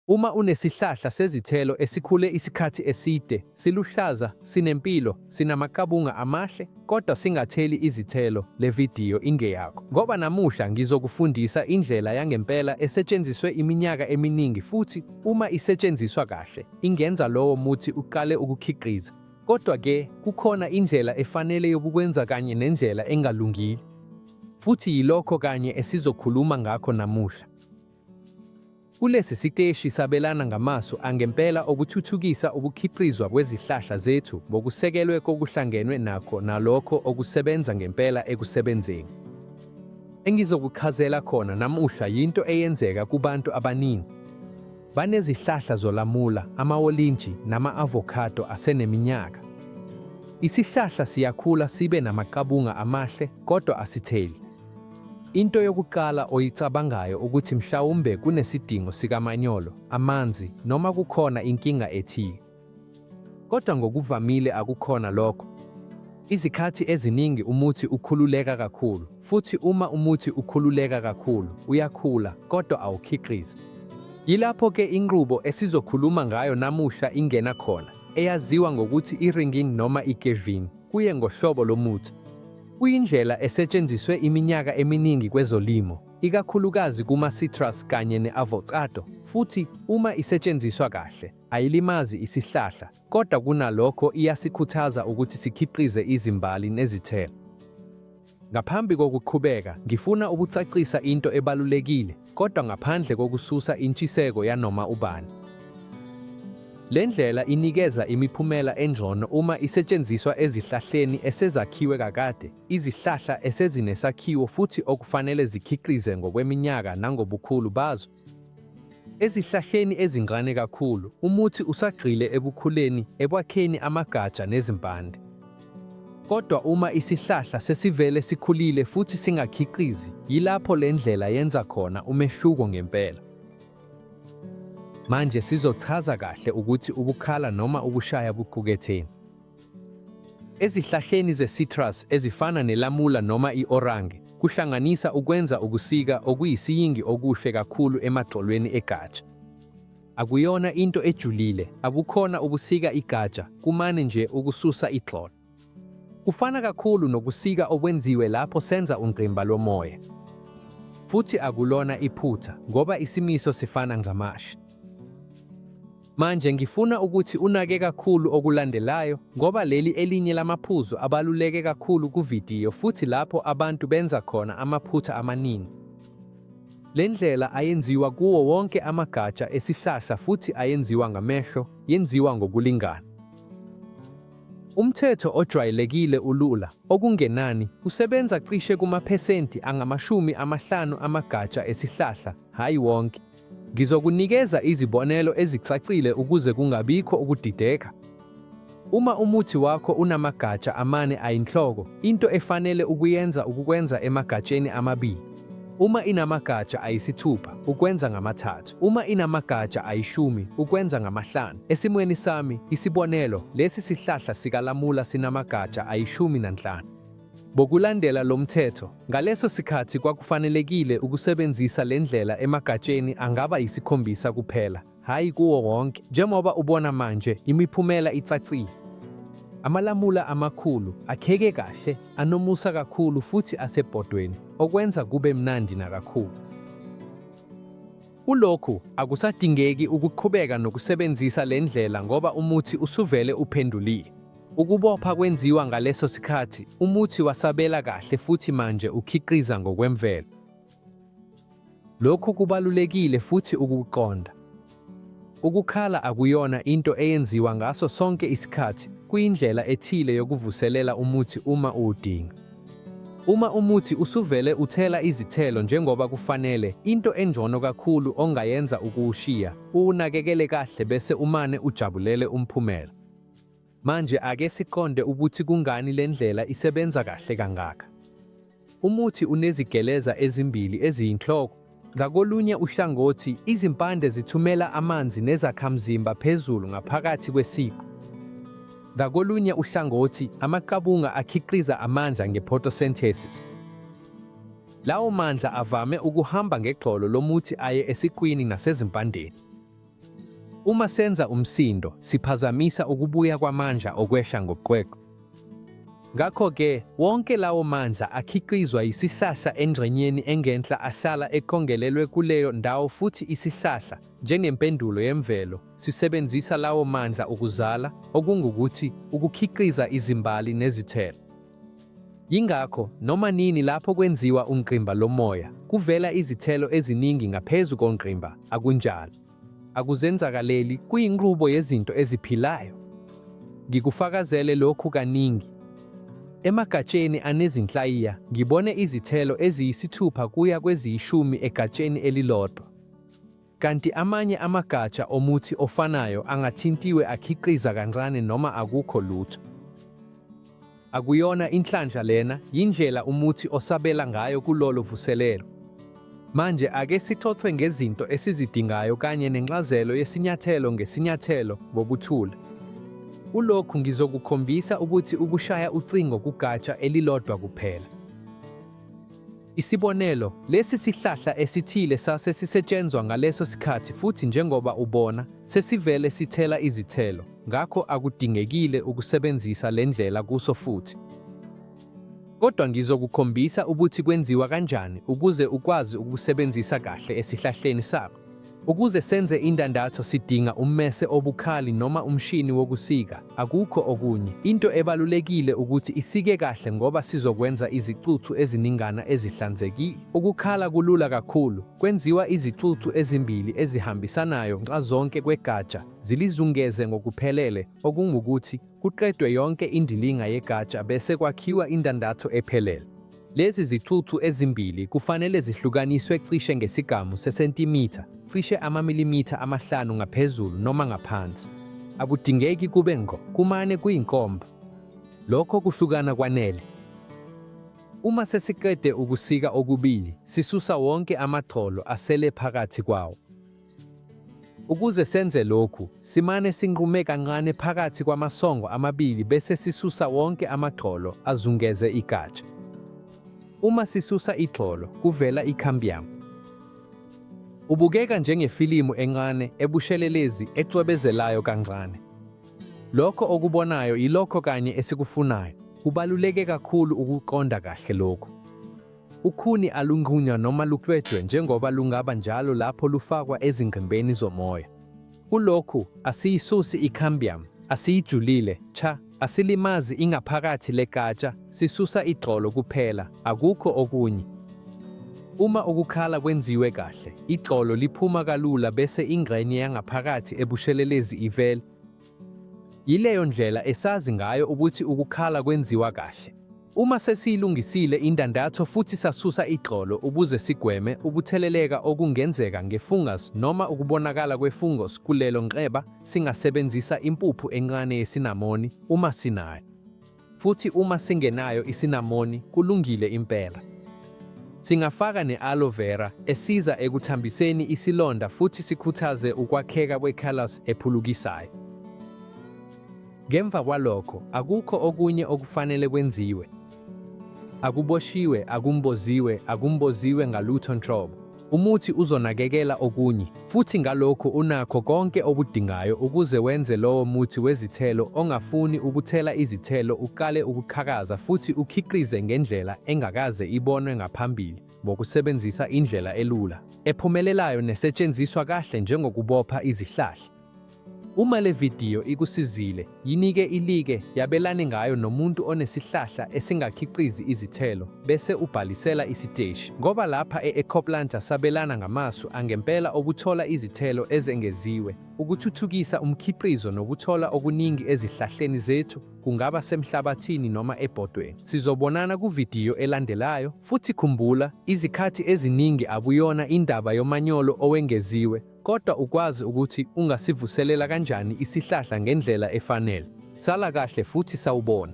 Uma unesihlahla sezithelo esikhule isikhathi eside, siluhlaza, sinempilo, sinamaqabunga amahle, kodwa singatheli izithelo, le vidiyo ingeyakho. Ngoba namuhla ngizokufundisa indlela yangempela esetshenziswe iminyaka eminingi futhi uma isetshenziswa kahle, ingenza lowo muthi uqale ukukhiqiza. Kodwa-ke kukhona indlela efanele yokukwenza kanye nendlela engalungile. Futhi yilokho kanye esizokhuluma ngakho namuhla. Kulesi siteshi sabelana ngamasu angempela okuthuthukisa ukukhiqizwa kwezihlahla zethu ngokusekelwe kokuhlangenwe nakho nalokho okusebenza ngempela ekusebenzeni. Engizokuchazela khona namuhla yinto eyenzeka kubantu abaningi. Banezihlahla zolamula, amawolintshi nama-avocado aseneminyaka. Isihlahla siyakhula sibe namaqabunga amahle kodwa asitheli. Into yokuqala oyicabangayo ukuthi mhlawumbe kunesidingo sikamanyolo, amanzi noma kukhona inkinga ethile. Kodwa ngokuvamile akukhona lokho. Izikhathi eziningi umuthi ukhululeka kakhulu, futhi uma umuthi ukhululeka kakhulu, uyakhula kodwa awukhiqizi. Yilapho ke inqubo esizokhuluma ngayo namuhla ingena khona, eyaziwa ngokuthi i-ringing noma i-geving, kuye ngohlobo lomuthi. Kuyindlela esetshenziswe iminyaka eminingi kwezolimo, ikakhulukazi kuma-citrus kanye ne-avocado, futhi uma isetshenziswa kahle, ayilimazi isihlahla, kodwa kunalokho iyasikhuthaza ukuthi sikhiqize izimbali nezithelo. Ngaphambi kokuqhubeka, ngifuna ukucacisa into ebalulekile. kodwa ngaphandle kokususa intshiseko yanoma ubani. Le ndlela inikeza imiphumela engcono uma isetshenziswa ezihlahleni esezakhiwe kakade, izihlahla esezinesakhiwo futhi okufanele zikhiqize ngokweminyaka nangobukhulu bazo. Ezihlahleni ezincane kakhulu, umuthi usagxile ekukhuleni, ekwakheni amagatsha nezimpande. Kodwa uma isihlahla sesivele sikhulile futhi singakhiqizi, yilapho le ndlela yenza khona umehluko ngempela. Manje sizochaza kahle ukuthi ukukhala noma ukushaya kuquketheni. Ezihlahleni ze-citrus ezifana nelamula noma i-orange, kuhlanganisa ukwenza ukusika okuyisiyingi okuhle kakhulu emagxolweni egatsha. Akuyona into ejulile, abukhona ubusika igatsha, kumane nje ukususa igxolo. Kufana kakhulu nokusika okwenziwe lapho senza ungqimba lomoya. Futhi akulona iphutha ngoba isimiso sifana ngamashi. Manje ngifuna ukuthi unake kakhulu okulandelayo ngoba leli elinye lamaphuzu abaluleke kakhulu kuvidiyo futhi lapho abantu benza khona amaphutha amaningi. Le ndlela ayenziwa kuwo wonke amagatsha esihlahla futhi ayenziwa ngamehlo, yenziwa ngokulingana. Umthetho ojwayelekile ulula, okungenani, usebenza cishe kumaphesenti angamashumi amahlanu amagatsha esihlahla, hhayi wonke. Ngizokunikeza izibonelo ezicacile ukuze kungabikho ukudideka. Uma umuthi wakho unamagatsha amane ayinhloko, into efanele ukuyenza ukukwenza emagatsheni amabili. Uma inamagatsha ayisithupha, ukwenza ngamathathu. Uma inamagatsha ayishumi, ukwenza ngamahlanu. Esimweni sami, isibonelo, lesi sihlahla sikalamula sinamagatsha ayishumi nanhlanu. Ngokulandela lo mthetho, ngaleso sikhathi kwakufanelekile ukusebenzisa le ndlela emagatsheni angaba yisikhombisa kuphela. hhayi kuwo wonke njengoba ubona manje imiphumela icacile. Amalamula amakhulu akheke kahle, anomusa kakhulu futhi asebhodweni, okwenza kube mnandi nakakhulu. Kulokhu akusadingeki ukuqhubeka nokusebenzisa le ndlela ngoba umuthi usuvele uphendulile. Ukubopha kwenziwa ngaleso sikhathi, umuthi wasabela kahle futhi manje ukhiqiza ngokwemvelo. Lokhu kubalulekile futhi ukuqonda. Ukukhala akuyona into eyenziwa ngaso sonke isikhathi, kuyindlela ethile yokuvuselela umuthi uma uwudinga. Uma umuthi usuvele uthela izithelo njengoba kufanele, into engcono kakhulu ongayenza ukuwushiya, uwunakekele kahle bese umane ujabulele umphumela. Manje ake siqonde ukuthi kungani le ndlela isebenza kahle kangaka. Umuthi unezigeleza ezimbili eziyinhloko. Ngakolunye uhlangothi, izimpande zithumela amanzi nezakhamzimba phezulu ngaphakathi kwesiqu. Ngakolunye uhlangothi, amaqabunga akhiqiza amandla ngephotosynthesis. Lawo mandla avame ukuhamba ngegxolo lomuthi aye esiqwini nasezimpandeni. Uma senza umsindo, siphazamisa ukubuya kwamandla okwehla ngoqweqwe. Ngakho-ke, wonke lawo mandla akhiqizwa yisisahla engxenyeni engenhla asala eqongelelwe kuleyo ndawo futhi isisahla, njengempendulo yemvelo, sisebenzisa lawo mandla ukuzala, okungukuthi, ukukhiqiza izimbali nezithelo. Yingakho noma nini lapho kwenziwa ungqimba lomoya kuvela izithelo eziningi ngaphezu kongqimba, akunjalo? Akuzenzakaleli, kuyinqubo yezinto eziphilayo. Ngikufakazele lokhu kaningi. Emagatsheni anezinhlayiya ngibone izithelo eziyisithupha kuya kweziyishumi egatsheni elilodwa. Kanti amanye amagatsha omuthi ofanayo angathintiwe akhiqiza kancane noma akukho lutho. Akuyona inhlanhla lena, yindlela umuthi osabela ngayo kulolo vuselelo. Manje ake sithothwe ngezinto esizidingayo kanye nencazelo yesinyathelo ngesinyathelo ngokuthula. Kulokhu ngizokukhombisa ukuthi ukushaya ucingo kugatsha elilodwa kuphela. Isibonelo, lesi sihlahla esithile sase sisetshenzwa ngaleso sikhathi futhi njengoba ubona, sesivele sithela izithelo, ngakho akudingekile ukusebenzisa le ndlela kuso futhi. Kodwa ngizokukhombisa ukuthi kwenziwa kanjani ukuze ukwazi ukusebenzisa kahle esihlahleni sakho. Ukuze senze indandatho sidinga ummese obukhali noma umshini wokusika, akukho okunye. Into ebalulekile ukuthi isike kahle ngoba sizokwenza izicuthu eziningana ezihlanzekile. Ukukhala kulula kakhulu, kwenziwa izicuthu ezimbili ezihambisanayo nxazonke kwegatsha, zilizungeze ngokuphelele, okungukuthi kuqedwe yonke indilinga yegatsha bese kwakhiwa indandatho ephelele. Lezi zicucu ezimbili kufanele zihlukaniswe cishe ngesigamu sesentimitha, cishe amamilimitha amahlanu ngaphezulu noma ngaphansi. Akudingeki kube ngqo, kumane kuyinkomba. Lokho kuhlukana kwanele. Uma sesiqede ukusika okubili, sisusa wonke amagxolo asele phakathi kwawo. Ukuze senze lokhu, simane sinqume kancane phakathi kwamasongo amabili bese sisusa wonke amagxolo azungeze igatsha. Uma sisusa igxolo, kuvela i-cambium. Ubukeka njengefilimu encane ebushelelezi ecwebezelayo kancane. Lokho okubonayo yilokho kanye esikufunayo. Kubaluleke kakhulu ukuqonda kahle lokhu. Ukhuni alunqunywa noma luklwejwe njengoba lungaba njalo lapho lufakwa ezingqimbeni zomoya. Kulokhu asiyisusi i-cambium, asiyijulile cha, asilimazi ingaphakathi legatsha, sisusa igxolo kuphela, akukho okunye. Uma ukukhala kwenziwe kahle, igxolo liphuma kalula bese ingxenye yangaphakathi ebushelelezi ivele. Yileyo ndlela esazi ngayo ukuthi ukukhala kwenziwa kahle. Uma sesiyilungisile indandatho futhi sasusa igxolo ukuze sigweme ukutheleleka okungenzeka ngefungus noma ukubonakala kwefungus kulelo nxeba, singasebenzisa impuphu encane yesinamoni uma sinayo. futhi uma singenayo isinamoni kulungile impela. Singafaka ne-aloe vera esiza ekuthambiseni isilonda futhi sikhuthaze ukwakheka kwe-callus ephulukisayo. Ngemva kwalokho akukho okunye okufanele kwenziwe. Akuboshiwe, akumboziwe, akumboziwe ngalutho nhlobo. Umuthi uzonakekela okunye, futhi ngalokho unakho konke okudingayo ukuze wenze lowo muthi wezithelo ongafuni ukuthela izithelo uqale ukuqhakaza futhi ukhiqize ngendlela engakaze ibonwe ngaphambili ngokusebenzisa indlela elula, ephumelelayo nesetshenziswa kahle njengokubopha izihlahla. Uma le vidiyo ikusizile, yinike ilike, yabelane ngayo nomuntu onesihlahla esingakhiqizi izithelo, bese ubhalisela isiteshi. Ngoba lapha e-Ecoplanta sabelana ngamasu angempela okuthola izithelo ezengeziwe. Ukuthuthukisa umkhiqizo nokuthola okuningi ezihlahleni zethu, kungaba semhlabathini noma ebhodweni. Sizobonana kuvidiyo elandelayo, futhi khumbula, izikhathi eziningi akuyona indaba yomanyolo owengeziwe, Kodwa ukwazi ukuthi ungasivuselela kanjani isihlahla ngendlela efanele. Sala kahle futhi sawubona.